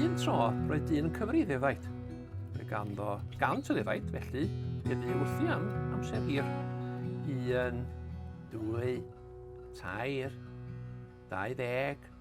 Un tro, roedd dyn yn cyfri ddefaid. Roedd ganddo gant o ddefaid, felly fe ddu wrthi am amser hir. Un, dwy, tair, dau ddeg,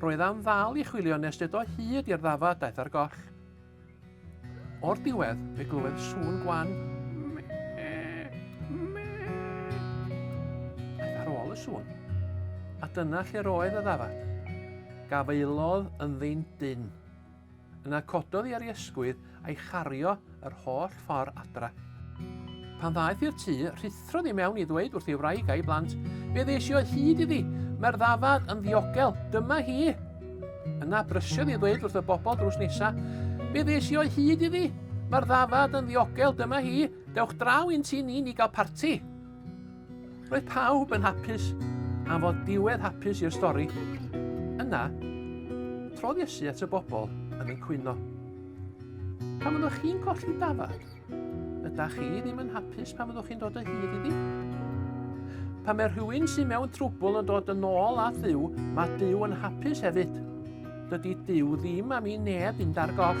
Roedd am ddal i chwilio nes ded o hyd i'r ddafad daeth ar goll. O'r diwedd, fe glywed sŵn gwan. Aeth ar ôl y sŵn. A dyna lle'r oedd y ddafad. Gafaelodd yn ddyn dyn. Yna cododd i ar ei ysgwydd a'i chario yr holl ffordd adra. Pan ddaeth i'r tŷ, rhuthrodd i mewn i ddweud wrth ei wraig a'i blant, Fe ddes i o hyd iddi, mae'r ddafad yn ddiogel, dyma hi! Yna brysiodd i ddweud wrth y bobl drws nesa, Fe ddes i o hyd iddi, mae'r ddafad yn ddiogel, dyma hi, dewch draw i'n tŷ ni ni gael parti! Roedd pawb yn hapus am fod diwedd hapus i'r stori. Yna, trodd Iesu at y bobl yn y cwyno. Pan fyddwch chi'n colli dafad, ydych chi ddim yn hapus pan fyddwch chi'n dod o hyd iddi? Pan mae rhywun sy'n mewn trwbl yn dod yn ôl at ddiw, mae Dyw yn hapus hefyd. Dydy Dyw ddim am i neb fynd ar goll.